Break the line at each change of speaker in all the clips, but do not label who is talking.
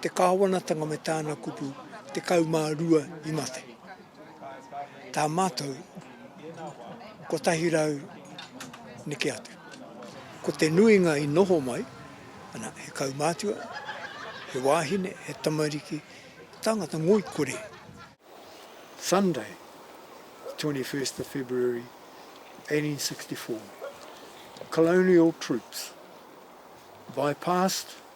te Kāwanatanga me tāna kupu 12 i mate. Tā mātou, 100 neke atu. Ko te nuinga i noho mai, ana, he kaumātua, he wāhine, he tamariki, tāngata ngoikore.
Sunday, 21st of February, 1864. Colonial troops bypassed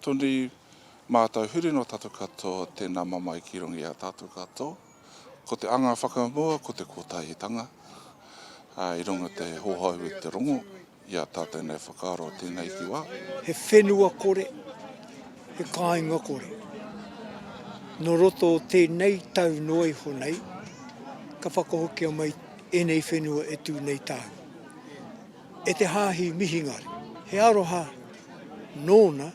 Toni, Mātou huri no tatou katoa tēnā mamae ki runga i a tatou katoa. Ko te anga whakamua ko te kotahitanga i runga te hohou i te rongo i a tatou nei whakaaro tēnei ki wā. He whenua
kore, he kāinga kore. No roto o tēnei tau noa iho nei ka whakahokia mai enei whenua e tu nei tāu. E te Hāhi Mihingare, he aroha nōna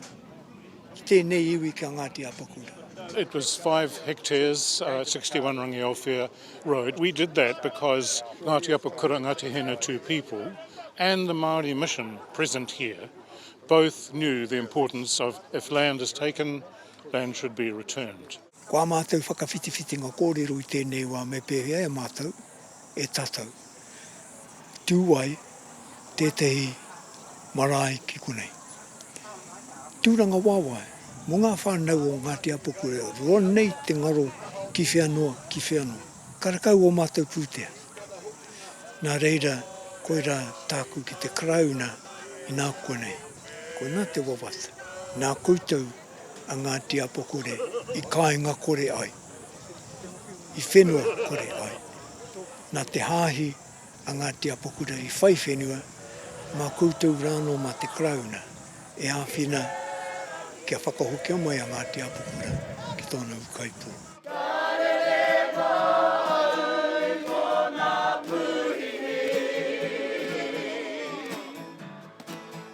ki tēnei iwi ki a Ngāti Apakura. It was five
hectares, uh, 61 Rangiaowhia Road. We did that because Ngāti Apakura, Ngāti Hinetū people and the Māori mission present here both knew the importance of if land is taken, land should be returned. Ko ā mātou
whakawhitiwhitinga kōrero i tēnei wā me pēhea e mātou, e tātou, tū ai tētehi marae ki konei. Tūranga wawae mō ngā whānau o Ngāti Apoku e roa nei te ngaro ki whea noa, ki whea noa. Karakau ō mātou pūtea. Nā reira, koirā tāku ki te Karauna inā koa nei, koinā te wawata, nā koutou a Ngāti Apakore i kāinga kore ai, i whenua kore ai. Nā te hāhi a Ngāti Apakura i whai whenua, mā koutou rānō mā te Karauna e āwhina kia whakahokia mai a Ngāti Apakura ki tōna ūkaipō.